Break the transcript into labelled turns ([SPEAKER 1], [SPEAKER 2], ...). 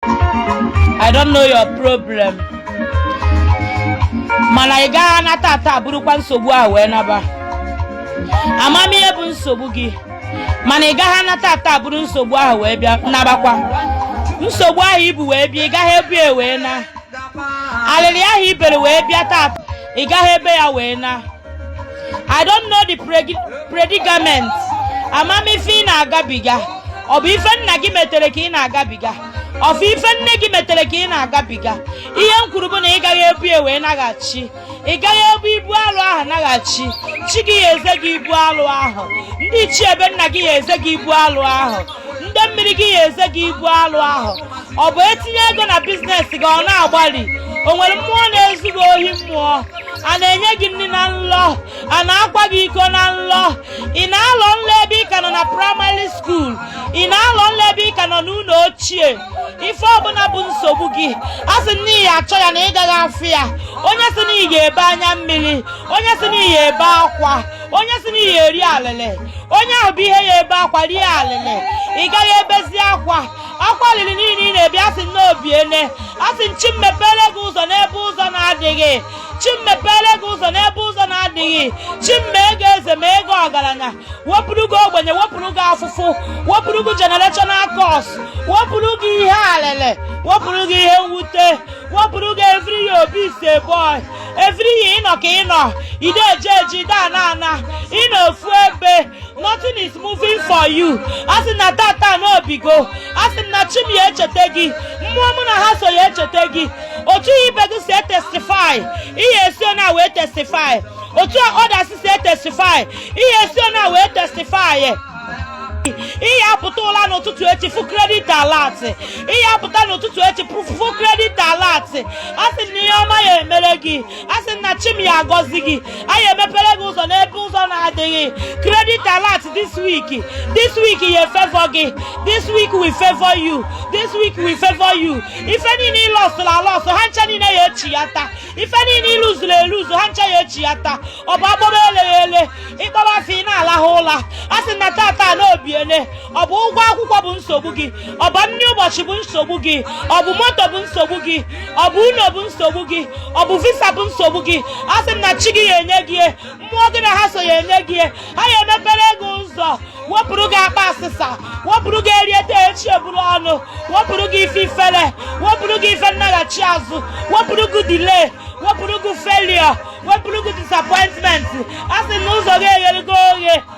[SPEAKER 1] I don't know your problem mana ị gaghị ana tata burukwa nsogbu ahụ wee naba ama m ihe bụ nsogbu gị mana ị gaghị ana tata buru nsogbu ahụ wee bịa nabakwa nsogbu ahụ i bu wee bịa ị gaghị ebu ya wee na alịrị ahụ i bere wee bịa taa ị gaghị ebe ya wee na I don't know the predicament ama m ife ị na-agabiga ọ bụ ife nna gị metere ka ị na-agabiga ọ bụ ife nne gị metere ka ị na-agabiga ihe m kwuru bụ na ị gaghị ebu ya wee naghachi ị gaghị ebu ibu alụ ahụ naghachi chi gị ya eze gị ibu alụ ahụ ndị ichie ebe nna gị ya eze gị ibu alụ ahụ ndị mmiri gị ya eze gị ibu alụ ahụ ọ bụ e tinye ego na business gị ọ na-agbari o nwere mmụọ na-ezu gị ohi mmụọ a na-enye gị nri na nlọ a na-akwa gị iko na nlọ ị na-alọ nlọ ebe ị ka nọ na primary school ị na-alọ nlọ ebe ị ka nọ n'ụlọ ochie ife ọbụla bụ nsogbu gị asị m na ị ya achọ ya na ị gaghị afụ ya onye sị na ị ya ebe anya mmiri onye sị na ị ya ebe akwa onye sị na ị ya eri alịlị onye ahụ bụ ihe ya ebe akwa rie alịlị ị gaghị ebezi akwa akwa alịlị niile ị na-ebe asị m na o biene asị m chi m mepere gị ụzọ n'ebe ụzọ na-adịghị chi m mepere gị ụzọ n'ebe ụzọ na-adịghị chi m mee gị eze mee gị ọgaranya wepụrụ gị ogbenye wepụrụ gị afụfụ wepụrụ gị generational curse wepụrụ gị ihe alịlị wepụrụ gị ihe mwute wepụrụ gị every year Obi is a boy every year ị nọ ka ị nọ i de eje eje i de ana ana ị nọ ofu ebe nothing is moving for you asị m na tata na o bigo asị m na chi m ya echeta gị mmụọ mụ na ha so ya echeta gị otu ibe gị si etestify ị ya esi ona wee testify otu others si etestify ị ya esi ona wee testify ị ya apụta ụla n'ụtụtụ echi fụ credit alert ị ya apụta n'ụtụtụ echi fụ credit alert asị m na ihe ọma ya emere gị asị m na chi m ya agọzi gị anyị emepere gị ụzọ n'ebe ụzọ na-adịghị credit alert this week this week ya efavor gị this week will favor you this week will favor you ife niile ị lọsụrụ alọsụ ha ncha niile ya echiyata ife niile ị luzuru eluzu ha ncha ya echiyata ọ bụ agbọrọ eleghị ele ị kpọrọ afọ ị na-alahụ ụla asị m na tata na o biele ọ bụ ụgwọ akwụkwọ bụ nsogbu gị ọ bụ nri ụbọchị bụ nsogbu gị ọ bụ moto bụ nsogbu gị ọ bụ ụlọ bụ nsogbu gị ọ bụ visa bụ nsogbu gị asị m na chi gị ya enye gị ya, mmụọ gị na ha so ya enye gị ya. ha ya emepere gị ụzọ wepụrụ gị akpa asịsa wepụrụ gị e rie taa echi e buru ọnụ wepụrụ gị ife ifere wepụrụ gị ife nnaghachi azụ wepụrụ gị delay wepụrụ gị failure wepụrụ gị disappointment asị m na ụzọ gị eghere gị oghe